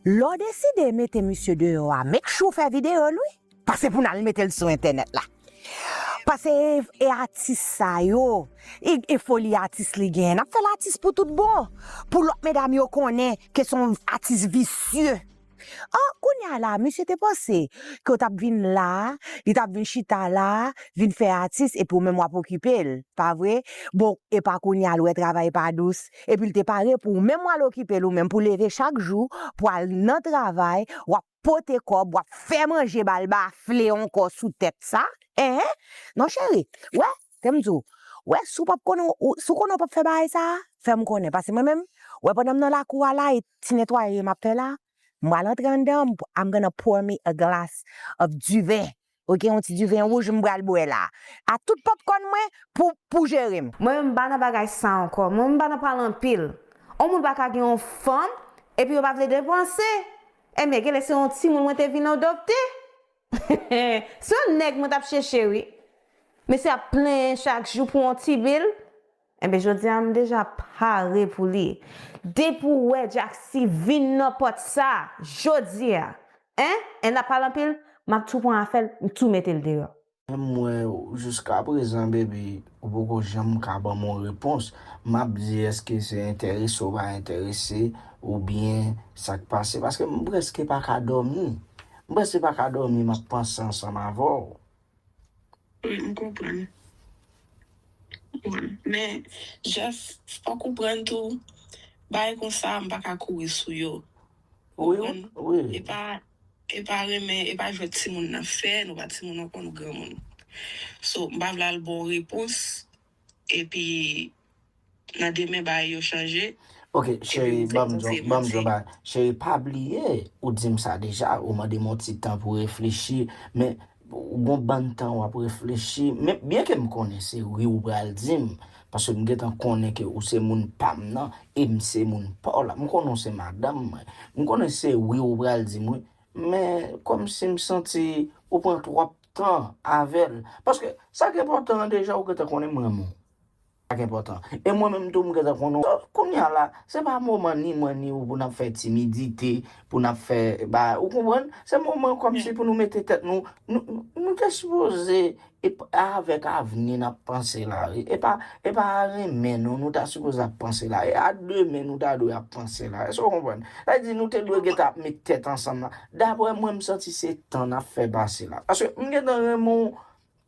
Lè w deside mete misye deyò a make sure w fè video l wi, pa se pou n al mete l sou entènèt la. Pase e atis sa yo, e foli atis li genyen n ap fè l atis pou tout bon, pou lòt medam yo konnen ke s on atis visye. An kounye a la misye te panse ke w t ap vin la, li t ap vin chita la vin fè atis epi w menm w ap okipe l, pa vre? Bon epa kounye a l wè travay pa dous, epi l te pare pou ou menm w al okipe l ou menm pou leve chak jou pou al nan travay w ap pote kòb w ap fè manje ba l bafle ankò sou tèt sa ehe non cheri wè tè m di w wè si w pap konnen w si w konnen w pap fè bagay sa fè m konnen pase mwen menm wè pandan m nan lakou a la e ti netwaye m ap fè la m pral antre anndan m ap pran me a glass of du vin Ou gen yon ti du vin rouge m pral bwè la a tout popcorn mwen pou pou jere m. Mwen menm m pa nan bagay sa ankò. Mwen menm m pa nan pale anpil. On moun pa ka gen yon fanm epi yo pa vle depanse. Enben genlè se yon timoun mwen te vin adopte. Se yon nèg mwen t ap cheche wi. Mesye ap plenyen chak jou pou yon ti bil. Enben jodi a m deja pare pou li. Depi ou wè Jacksy vin nan pòt sa jodi a en en nap pale anpil m ap tou pran afè l m tou mete l deyò. Menm mwen jiskaprezan baby ou poko janm ka banm yon repons m ap di eske se enterese ou pa enterese ou byen sa k pase paske m prèske pa ka dòmi m prèske pa ka dòmi m ap panse ansanm avè w. Wi m konprann Bon men Jeff fòk ou prann tou bagay konsa m paka kouri sou yo ou konprann epa epa renmen epa jwèt timoun nap fè nou pa timoun ankò nou granmoun so m pa vle al baw repons. epi nan demen bagay yo chanje. Ok cheri banm yon bagay cheri pa bliye ou dim sa deja ou mandem yon ti tan pou reflechi men ou gon bann tan wap reflechi men byen kem konnen se wi ou pral dim paske m gentan konnen ke ou se moun pam nan em se moun paw la m konnen ou se madanm mwen m konnen se wi ou pral dim wi men komsi m santi ou pran twòp tan avèl paske sak enpòtan an deja ou gentan konnen m renmen w sak enpòtan e mwen menm tou m gentan konnen w donk kounya la se pa moman ni mwen ni ou pou nap fè timidite pou nap fè ba ou konprann se moman kòmsi pou nou mete tèt nou nou te sipoze e avèk avni nap panse la wi e pa e pa a renmen nou nou ta sipoze ap panse la e a demen nou ta dwe ap panse la èske w konprann sa vle di nou te dwe gentan ap met tèt ansanm la. Daprè mwen m santi se tan nap fè pase la paske m gentan renmen w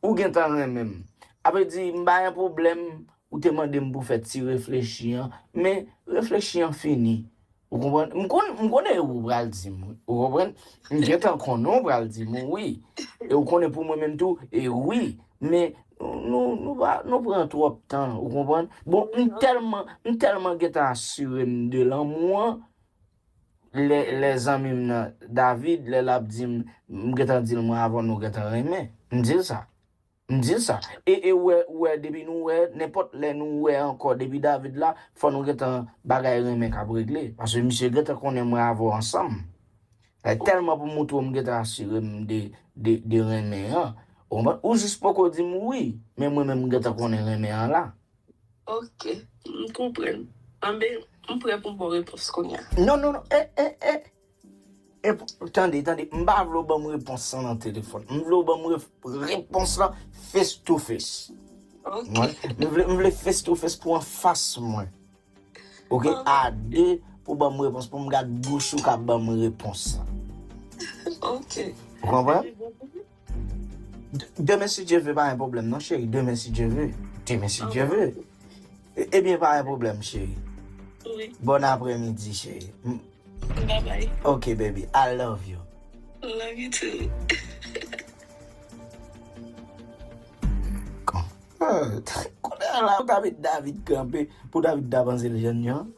ou gentan renmen m apre di m pa gen pwoblèm ou te mande m pou fè ti reflechi an men reflechi an fini ou konprann m konn m konnen ou pral di m ou konprann m gentan konnen ou pral di m wi e ou konnen pou mwen menm tou e wi men nou nou pa nou pran twòp tan ou konprann bon m tèlman m tèlman gentan asire m de lanmou an Lè lè zanmi m nan David lè lap di m m gentan di l mwen avan nou gentan renmen m di l sa m di l sa e e ou wè ou wè depi nou wè nenpòt lè nou wè ankò depi David la fò nou gentan bagay renmen kap regle paske misye gentan konnen mwen avè w ansanm like tèlman pou m moutre w m gentan asire m de de de renmen an ou konprann ou jis poko di m wi men mwen menm m gentan konnen renmen an la. Ok m konprann. Anbe m prè pou m baw repons kounya. Non non non eh eh eh eh tande tande m pa vle w banm repons lan nan telefòn m vle w banm repons lan face to face ok m vle m vle face to face pou anfas mwen ok a de pou w banm repons pou m gad bouch ou kap banm repons lan ok ou konprann. Demen si Dye ve pa gen pwoblèm non cheri demen si Dye ve demen si Dye ve ebyen pa gen pwoblèm cheri wi bòn aprè midi cheri babay ok baby I love you love you too. Kounye a la yo ka met David kanpe pou David ta panse l jèn jan.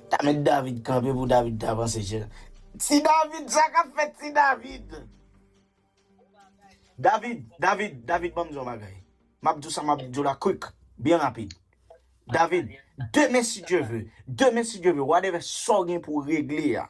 Ta met David kanpe pou David ta vanse chè. Ti David sa kap fè ti David. David, David, David banm di yon bagay. Map di w sa map di w la quick, byen rapid. David, demen si Dieu veut, demen si Dieu veut, whatever sa w gen pou w regle a.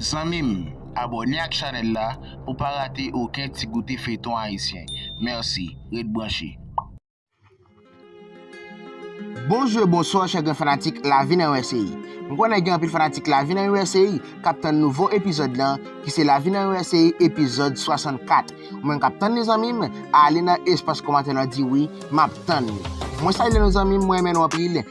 Zanmim abòne ak chanèl la pou pa rate oken ti goute feyton ayisyen merci ret branche. Bonjou e bonswa chè gran fanatik lavi nan usa m konnen gen anpil fanatik lavi nan usa kap tann nouvo epizòd lan ki se lavi nan usa epizòd 64 ou menm kap tann li zanmim ale nan espas kòmantè lan di wi map tann li mwen salye nou zanmim mwen renmen nou anpil.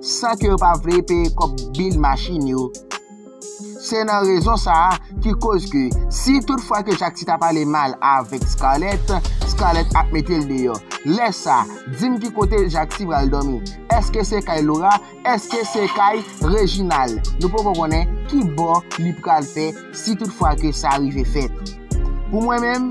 san ke yo pa vle peye kòb bil machin yo. Se nan rezon sa a ki koz ke si tout fwa ke Jakti ta pale mal avèk Scarlett, Scarlett ap mete l deyò. Lè sa, di m ki kote Jakti pral dòmi? Eske se kay Laura? Eske se kay Reginald? Nou poko konnen ki bò li pral fè si tout fwa ke sa rive fèt. Pou mwen menm.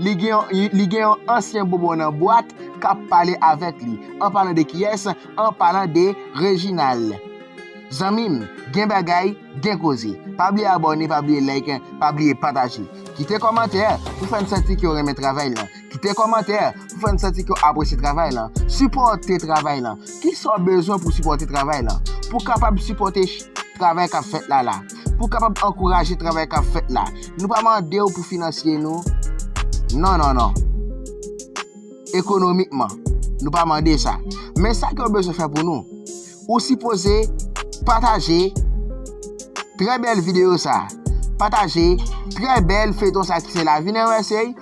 li gen yon li gen yon ansyen bonbon nan bwat k ap pale avèk li. An palan de kiyès? An palan de Rejinal. Zanmi m, gen bagay, gen koze. Pa bliye abòne, pa bliye like, pa bliye pataje. Kite kòmantè pou fè n santi ke w renmen travay lan. Kite kòmantè pou fè n santi ke w apresye travay lan. Sipòte travay lan. Kisa w bezwen pou w sipòte travay lan? Pou w kapab sipòte travay k ap fèt la la. pou kapab ankouraje travay kap fèt la. Nou pa mandew pou finansye nou non non non. Ekonomikman nou pa mande sa. Men sa kew bezwen fè pou nou. Ou sipoze pataje trè bèl video sa. Pataje trè bèl feyton sa ki se lavi nan usa.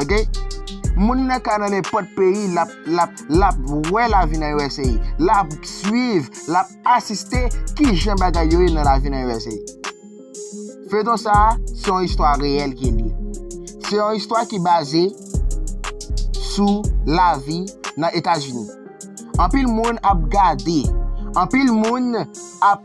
Ok Moun nan ka nan nenpòt peyi lap wè lavi nan usa lap swiv lap asiste kijan bagay yo ye nan lavi nan usa Feyton sa se yon istwa reyèl ki li se yon istwa ki baze sou lavi nan etazini anpil moun ap gade anpil moun ap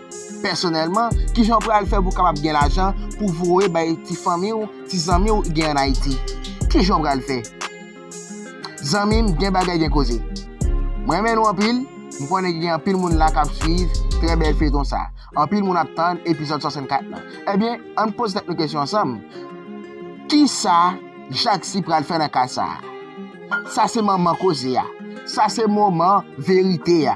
Pèsonèlman, ki jan w pral fè pou w kapab gen lajan pou w voye bay ti fanmi w, ti zanmi w gen ann Ayiti? Ki jan w pral fè? Zanmi m, gen bagay gen koze. Mwen renmen nou anpil, m konnen gen anpil moun la k ap swiv trè bèl feyton sa. Anpil moun ap tann epizòd 64 lan. Ebyen, ann poze tèt nou kesyon ansanm, Kisa Jaksy pral fè nan ka sa a? Sa se manman koze a. Sa se moman verite a.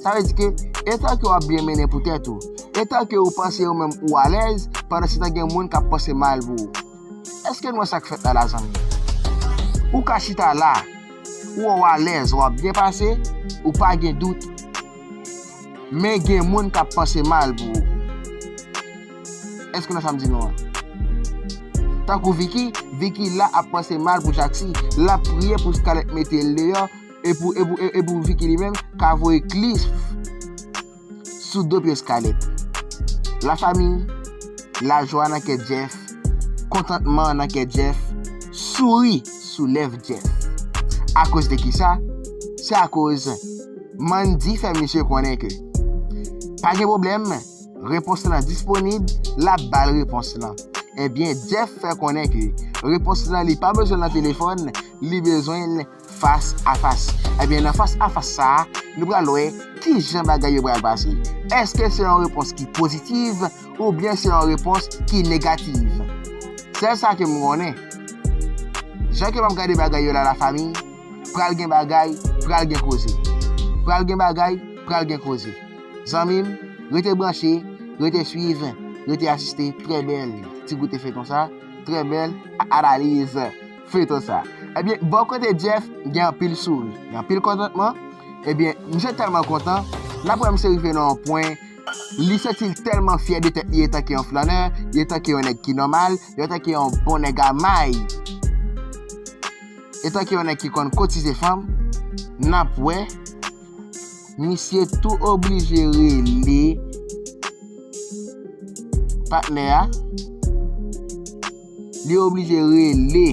Sa vle di ke, etan ke w ap byen mennen pou tèt ou, etan ke ou panse ou menm ou alèz, pandan se tan gen moun k ap panse mal pou ou. Eske n wè sa k fèt la la zanmi? Ou ka chita la, ou wè w alèz, w ap byen pase, ou pa gen dout, men gen moun k ap panse mal pou ou. Eske nou wè sa m di nou an? Tankou Vicky, Vicky la ap panse mal pou Jacksy, l ap priye pou Scarlett mete l deyò, E pou, e pou, e pou Vicky li menm, ka voye klif sou do pyès Khaled. La fami, la jwa nan kè Jeff, kontantman nan kè Jeff, souri sou lèv Jeff. Akoz de ki sa? Se akoz Mandy fè misye konnen ke pa gen pwoblèm, repons lan disponib, l ap ba l repons lan. Ebyen Jeff fè konnen ke repons lan li pa bezwen l nan telefòn, li bezwen l. Fas a fas. Ebyen nan fas a fas sa a, nou pral wè ki jan bagay yo pral pase. Eske se yon repons ki pozitiv oubyen se yon repons ki negativ? Sèl sa ke m konnen, jan ke m ap gade bagay yo la la famiy, pral gen bagay, pral gen koze. Pral gen bagay, pral gen koze. Zanmi m, rete branche, rete swiv, rete asiste trè bèl ti goute feyton sa, trè bèl analiz. feyton sa ebyen bò kote Jeff gen anpil souri gen anpil kontantman ebyen misye tèlman kontan lap wè misye rive nan yon pwen li santil tèlman fyè de tèt li etanke yon flannè etanke yon nèg ki nòmal etanke yon bon nèg a may etanke yon nèg ki konn kotize fanm nap wè misye tou oblije rele patnè a. Li oblije rele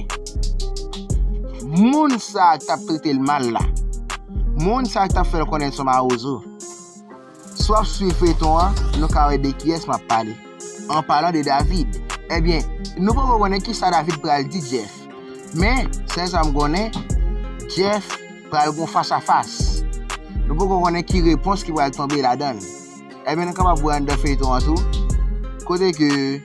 moun sa a ki t ap trete l mal la, moun sa a ki t ap fè l konnen l s on mawozo. Si w ap suiv feyton an, nou ka wè de kiyès m ap pale, an palan de David. Ebyen, nou poko konnen ki sa David pral di Jeff, men, sèl sa m konnen, Jeff pral gen yon fas a fas. Nou poko konnen ki repons ki pral tonbe ladan l. Ebyen, nou kapab wè anndan feyton an tou, kote ke.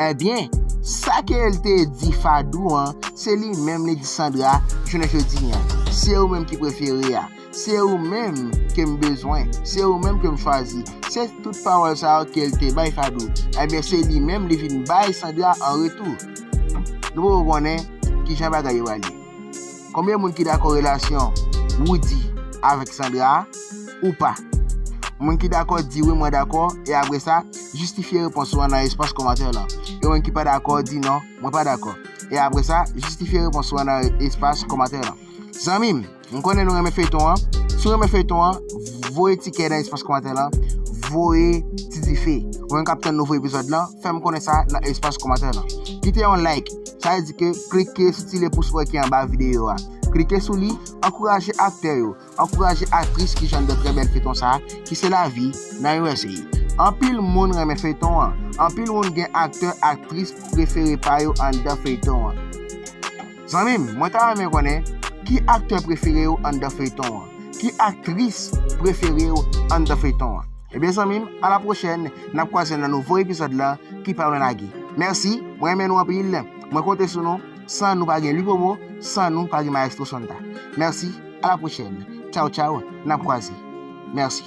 Ebyen, sa ke l te di Fadou an, se li menm li di Sandra jounen jodi an, Se ou menm ki prefere a, se ou menm ke m bezwen, se ou menm ke m chwazi. Se tout pawòl sa yo ke l te bay Fadou, ebyen se li menm li vin bay Sandra an retou. Nou poko konnen kijan bagay yo ale. Konbyen moun ki dakò relasyon Roody avèk Sandra a ou pa? Moun ki dakò di wi mwen dakò e apresa jistifye repons ou an nan espas kòmantè lan e moun ki pa dakò di non mwen pa dakò e apresa jistifye repons ou an nan espas kòmantè lan zanmi m m konnen nou renmen feyton an si w renmen feyton an voye ti kè nan espas kòmantè lan voye ti dife ou menm kap tann nouvo epizòd lan fèm konnen sa nan espas kòmantè lan kite yon like Sa vle di ke klike sou ti lyen pous wè ki anba videyo a. Klike sou li, ankouraje aktè yo, ankouraje aktris ki jwenn de trè bèl feyton sa ki se lavi nan usa. Anpil moun renmen feyton an, anpil moun gen aktè, aktris prefere pa yo anndan feyton an. Zanmi m, mwen ta renmen konnen ki aktè prefere w anndan feyton an? Ki aktris prefere w anndan feyton an? Ebyen zanmi m, a la pwochèn, n ap kwaze nan nouvo epizòd lan ki pa lwen lage. Mèsi, mwen renmen nou anpil, mwen konte sou nou, san nou pa gen Lupomo, san nou pa gen Maestro Sonda. Mèsi, a la pwochèn. Tchaw tchaw, n ap kwaze. Mèsi.